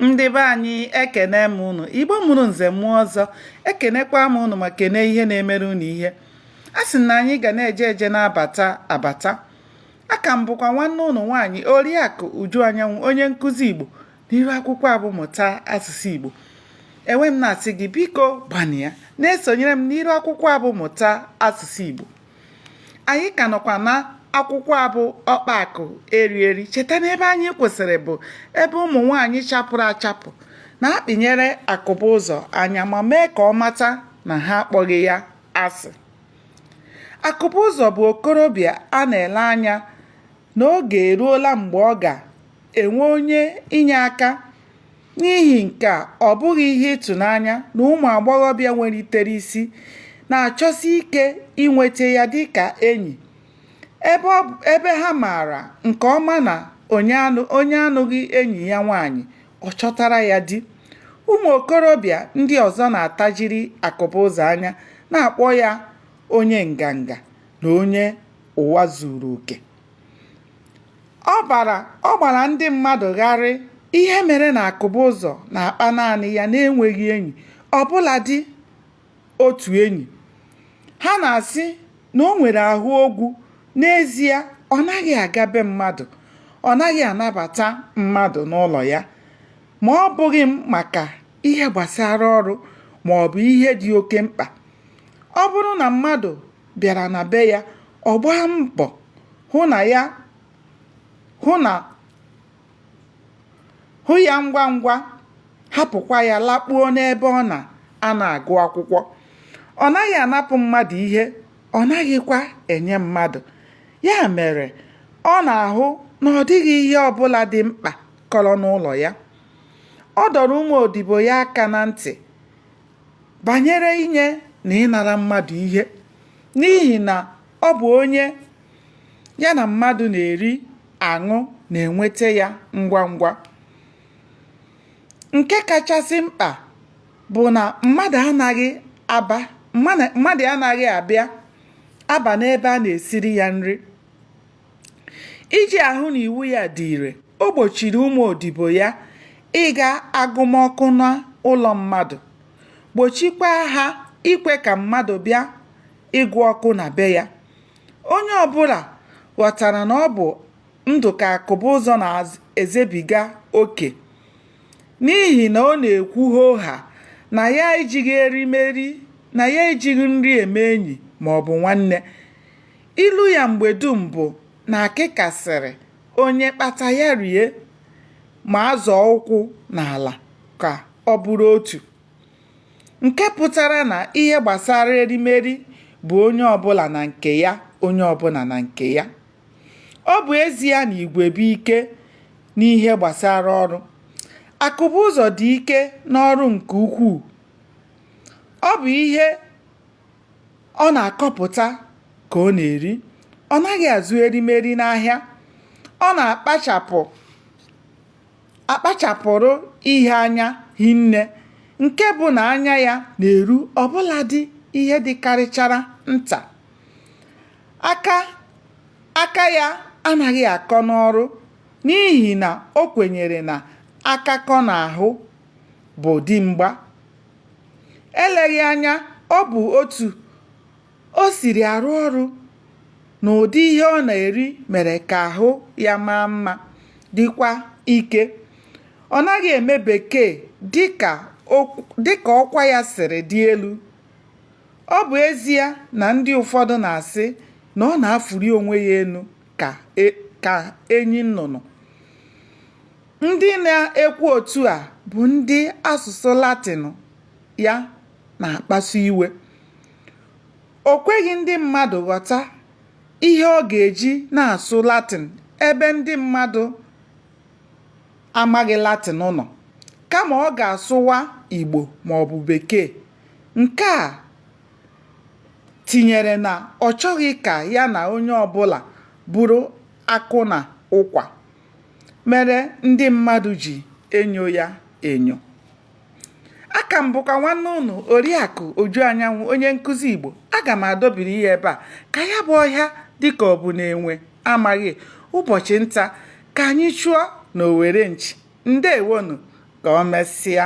ndị be anyị ekene m unu igbo mụrụ nze mụọ ọzọ ekenekwa m unu ma kene ihe na-emere unu ihe a sị na anyị ga na-eje eje na-abata abata aka m bụkwa nwanne unu nwaanyị oriakụ uju anyanwụ onye nkụzi igbo n'iru akwụkwọ a bụ mụta asụsụ igbo e wee m na-asị gị biko gbanịa na-esonyere m n'iru akwụkwọ abụ mụta asụsụ igbo anyị ka nọkwa na akwụkwọ a bụ ọkpa akụ eri eri cheta na ebe anyị kwụsịrị bụ ebe ụmụ nwaanyị chapụrụ achapụ na-akpịnyere akụba ụzọ anya ma mee ka ọ mata na ha akpọghị ya asị akụba ụzọ bụ okorobịa a na-ele anya na oge eruola mgbe ọ ga-enwe onye inye aka. N'ihi nke a, ọ bụghị ihe ịtụnanya na ụmụ agbọghọbịa nwelitere isi na-achọsi ike inweta ya dị ka enyi, ebe ha maara nke ọma na onye anụghị enyi ya nwaanyị, ọ chọtara ya di. Ụmụ okorobịa ndị ọzọ na-atajiri Akụbụzọ anya, na-akpọ ya onye nganga na onye ụwa zuru oke ọ bara ọ gbara ndị mmadụ gharị ihe mere na akụba ụzọ na-akpa naanị ya n'enweghị enyi ọbụladị otu enyi ha na-asị na o nwere ahụ ogwu n'ezie ọ naghị aga be mmadụ ọ naghị anabata mmadụ n'ụlọ ya ma ọ bụghị maka ihe gbasara ọrụ ma ọ bụ ihe dị oke mkpa ọ bụrụ na mmadụ bịara na be ya ọ gbaa mbọ hụ ya ngwa ngwa hapụkwa ya lakpuo n'ebe ọ na a na-agụ akwụkwọ ọ naghị anapụ mmadụ ihe ọ naghịkwa enye mmadụ ya mere ọ na-ahụ na ọ dịghị ihe ọbụla dị mkpa kọrọ n'ụlọ ya ọ dọrọ ụmụ odibo ya aka na ntị banyere inye na ịnara mmadụ ihe n'ihi na ọ bụ onye ya na mmadụ na-eri aṅụ na-enweta ya ngwa ngwa nke kachasị mkpa bụ na mmadụ anaghị aba mmadụ anaghị abịa aba n'ebe a na-esiri ya nri iji ahụ na iwu ya dị ire o gbochiri ụmụ odibo ya ịga agụmọkụ n'ụlọ mmadụ gbochikwa ha ikwe ka mmadụ bịa ịgụ ọkụ na be ya onye ọbụla ghọtara na ọ bụ ndụ ka akụba ụzọ na-ezebiga oke n'ihi na ọ na-ekwu hoo haa na ya ejighị erimeri na ya ejighị nri eme enyi maọbụ nwanne Ilu ya mgbe dum bụ na akịka sịrị onye kpata ya rie ma azọọ ụkwụ n'ala ka ọ bụrụ otu. Nke pụtara na ihe gbasara erimeri bụ onye ọbụla na nke ya, onye ọbụla na nke ya. Ọ bụ ezie na igwe bụ ike n'ihe gbasara ọrụ, Akụbuụzọ dị ike n'ọrụ nke ukwuu. Ọ bụ ihe ọ na-akọpụta ka ọ na-eri ọ naghị azụ erimeri n'ahịa ọ na-akpachapụ akpachapụrụ ihe anya hinne nke bụ na anya ya na-eru ọbụladị ihe dịkarịchara nta aka aka ya anaghị akọ n'ọrụ n'ihi na o kwenyere na aka akọ n'ahụ bụ dimgba Eleghị anya ọ bụ otu o siri arụ ọrụ na ụdị ihe ọ na-eri mere ka ahụ ya maa mma, dịkwa ike. Ọ naghị eme Bekee dị ka ọkwa ya siri dị elu. Ọ bụ ezie na ndị ụfọdụ na-asị na ọ na-afụli onwe ya elu ka e, enyi nnụnụ. Ndị na-ekwu otu a bụ ndị asụsụ Latịn ya na-akpasu iwe. O kweghị ndị mmadụ ghọta ihe ọ ga-eji na-asụ Latịn ebe ndị mmadụ amaghị Latịn nọ, kama ọ ga-asụwa Igbo ma ọ bụ Bekee. Nke a tinyere na ọ chọghị ka ya na onye ọbụla bụrụ akụ na ụkwa. mere ndị mmadụ ji enyo ya enyo aka m bụkwa nwanne unu oriakụ uju anyanwụ onye nkụzi igbo aga m adọbiri ya ebe a ka ya bụ ọhịa dịka ọ bụ na enwe amaghị ụbọchị nta ka anyị chụọ na owere nchi ndewonu ka o mesịa